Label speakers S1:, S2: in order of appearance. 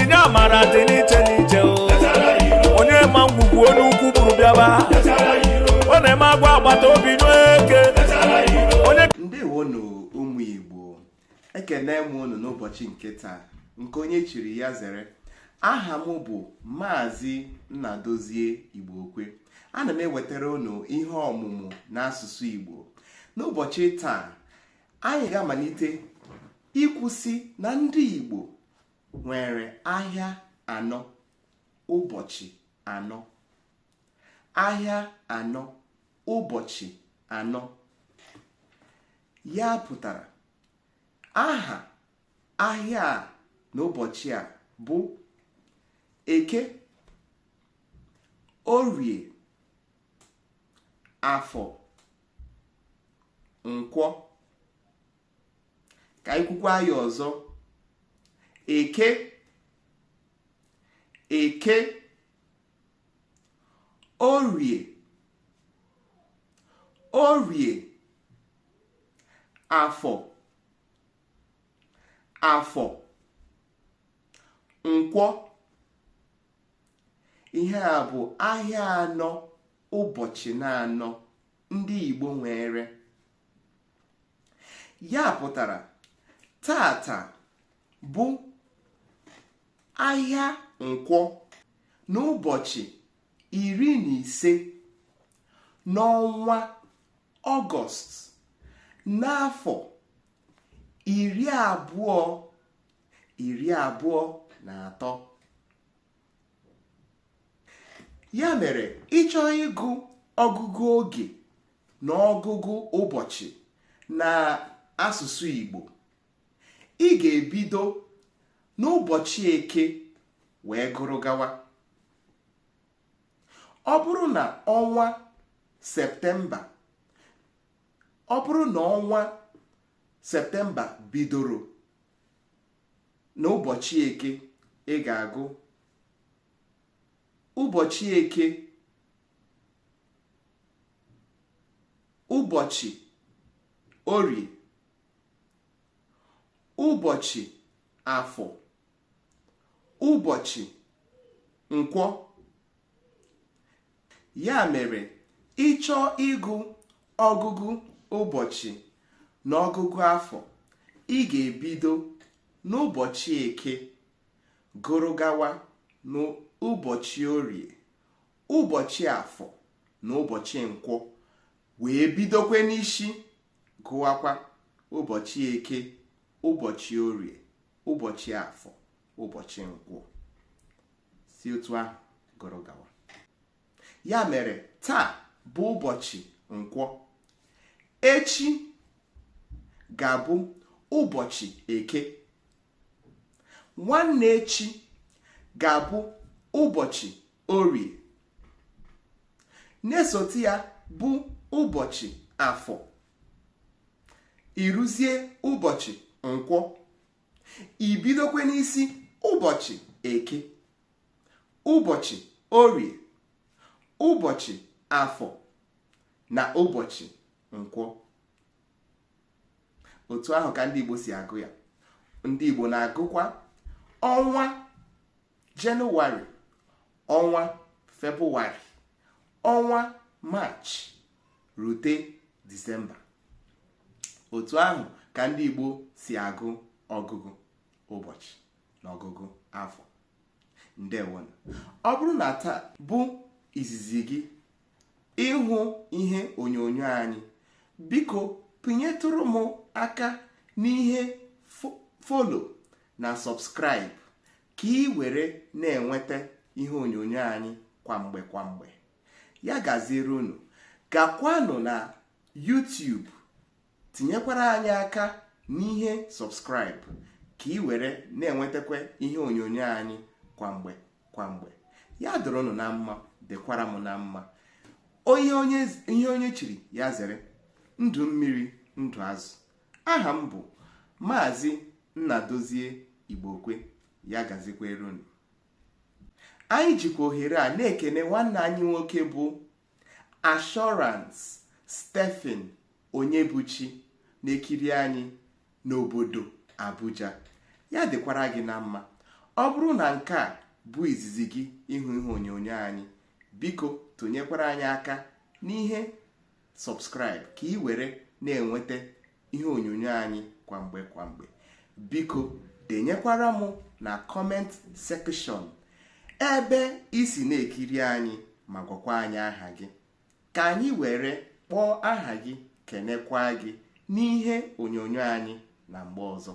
S1: inye amara dị n'iche n'iche o onye ma ngwugwu onye ukwu buru bịaba ọ na-eme agwa agbata obi n'eke onye ndewonụ
S2: ụmụ igbo ekene m unu n'ụbọchị nke taa nke onye chiri ya zere aha m bụ maazị nnadozie igbo okwe ana m ewetara unu ihe ọmụmụ n'asụsụ igbo n'ụbọchị taa anyị ga-amalite ikwusi na ndị igbo nwere ahịa anọ ụbọchị anọ ahịa anọ ụbọchị anọ ya pụtara aha ahịa a na ụbọchị a bụ eke orie afọ nkwọ ka anyị kwukwaa ya ọzọ eke eke orie orie afọ afọ nkwọ ihe a bụ ahịa anọ ụbọchị naanọ ndị Igbo nwere ya pụtara taata bụ ahịa nkwọ n'ụbọchị iri na ise n'ọnwa ọgọst n'afọ iri abụọ iri abụọ na atọ ya mere ị chọọ ịgụ ọgụgụ oge na ọgụgụ ụbọchị na asụsụ Igbo ị ga-ebido n'ụbọchị eke wee gụrụ gawa ọ bụrụ na ọnwa septemba ọ bụrụ na ọnwa septemba bidoro na ụbọchị eke ị ga-agụ ụbọchị eke ụbọchị orie ụbọchị afọ ụbọchị nkwọ ya mere ị chọọ ịgụ ọgụgụ ụbọchị na ọgụgụ afọ ị ga-ebido n'ụbọchị eke gụrụ gawa n'ụbọchị orie ụbọchị afọ na ụbọchị nkwọ wee bidokwe n'isi gụwakwa ụbọchị eke ụbọchị orie ụbọchị afọ ụbọchị nkwọ si otu ahụ gụrụ gawa ya mere taa bụ ụbọchị nkwọ echi ga-abụ ụbọchị eke nwanne echi ga-abụ ụbọchị orie na-esote ya bụ ụbọchị afọ i ruzie ụbọchị nkwọ i bidokwe n'isi ụbọchị eke ụbọchị orie ụbọchị afọ na ụbọchị nkwọ otu ahụ ka ndị Igbo si agụ ya ndị Igbo na-agụkwa ọnwa jenụwarị ọnwa febrụwarị ọnwa maachị rute disemba otu ahụ ka ndị Igbo si agụ ọgụgụ ụbọchị na ọgụgụ afọ ndewonụ ọ bụrụ na taa bụ izizi gị ịhụ ihe onyonyo anyị biko pịnyetụrụ m aka n'ihe follow na subscribe ka ị were na-enweta ihe onyonyo anyị kwa mgbe kwa mgbe ya gaziere unu gakwanụ na YouTube tinyekwara anyị aka n'ihe subscribe ka ị were na-enwetakwa ihe onyonyo anyị kwa mgbe kwa mgbe ya dịrị unu na mma dịkwara m na mma ihe onye chiri ya zere ndụ mmiri ndụ azụ aha m bụ maazị Nnadozie Igbokwe ya gazikwere unu anyị jikwa ohere a na-ekene nwanne anyị nwoke bụ Assurance Stephen Onyebuchi na-ekiri anyị n'obodo Abuja ya dịkwara gị na mma ọ bụrụ na nke a bụ izizi gị ịhụ ihe onyonyo anyị biko tụnyekwara anyị aka n'ihe subscribe ka ị were na-enweta ihe onyonyo anyị kwa mgbe kwa mgbe biko denyekwara m na comment section ebe i si na-ekiri anyị ma gwakwa anyị aha gị ka anyị were kpọọ aha gị kenekwa gị n'ihe onyonyo anyị na mgbe ọzọ